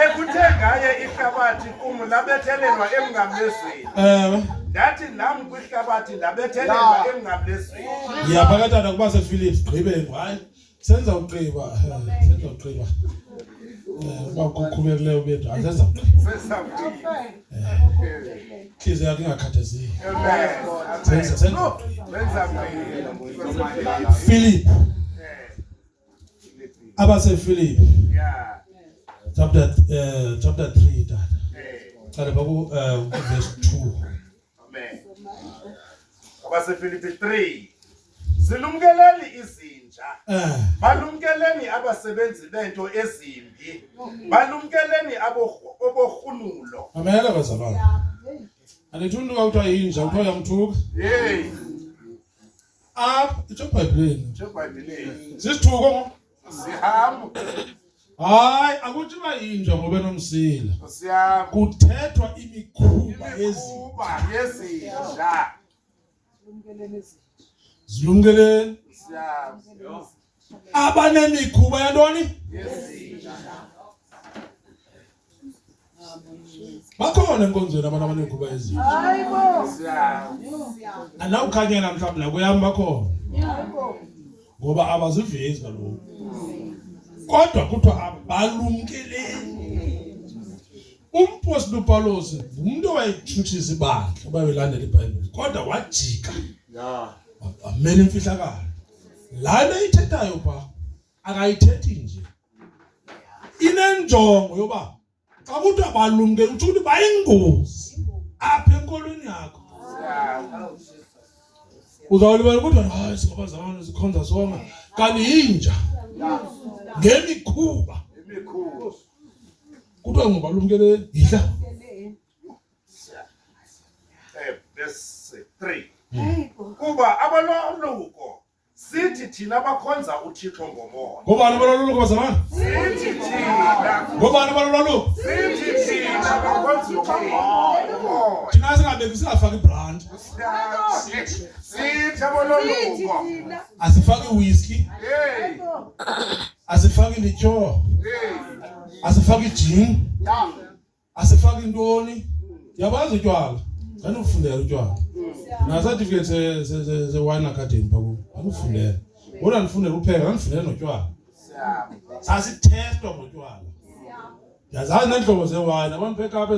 ekuthe ngaye ihlabathi kum labethelelwa emngamlezweni ewe ndathi nam kwihlabathi ndabethelelwa emngamlezweni ndiyaphakatana kuba sephilips gqibeni hayi senza ugqiba eh, senza ugqiba eh, uba kukhululekileyo bethu asenza ugqiba ntliziyo yakho ingakhathazeki senza senza ugqiba philip abasefilipi chapter uh, chapter 3 tata qale baku uh, verse 2 Amen. Abasefilipi 3 Zilumkeleni izinja. Eh. Balumkeleni abasebenzi bento ezimbi. Balumkeleni abohlunulo. Amen abazalwane. Anditundu kuthiwa yinja kuthiwa yamthuka. Hey. Up, it's your Bible. It's your Bible. Is this true? Sihamba. Hayi akuthi bayinja ngoba nomsila. Sihamba. Kuthethwa imikhuba ezikuba yezinja. Lumkeleni izinja. Zilumkeleni. Sihamba. Abanemikhuba yantoni? Yezinja. bakhona enkonzweni abantu abaneekhuba ezinje anawukhanya namhlawumbi nakweyam bakhona ngoba abazivezi kaloku kodwa kuthiwa abalumkeleni umpostile upawulos ngumntu owayetshutshisa ibandla obayelandela ibhayibhile kodwa wajika wamela imfihlakalo laa nto ithethayo phaa akayithethi nje inenjongo yoba xa kuthiwa balumke utsho ukuthi bayingozi apha enkolweni yakho uzawulibala kodwa hayi singaba zamane zikhonza songa kanti yinja ngemikhuba kuthiwa ngoba lumkele yidla eh, kuba abaloluko sithi thina bakhonza uthixo ngomoya ngobani abalolwaluko bazalwana sithi thina ngobani abalolwaluko sithi thina bakhonza umoya thina singabeki singafaki ibrand sithi abalolwaluko asifaki whisky asifaki lityoo asifaki ijini asifaki ntoni ndiyabazi utywala ndandikufundela utywala nasatifiketi sewine academy phaku ndandikufundela kodwa ndifundela upheka ndandifundela notywala sasithestwa ngotywala ndiyazazi neentlobo zewine abantu bekapa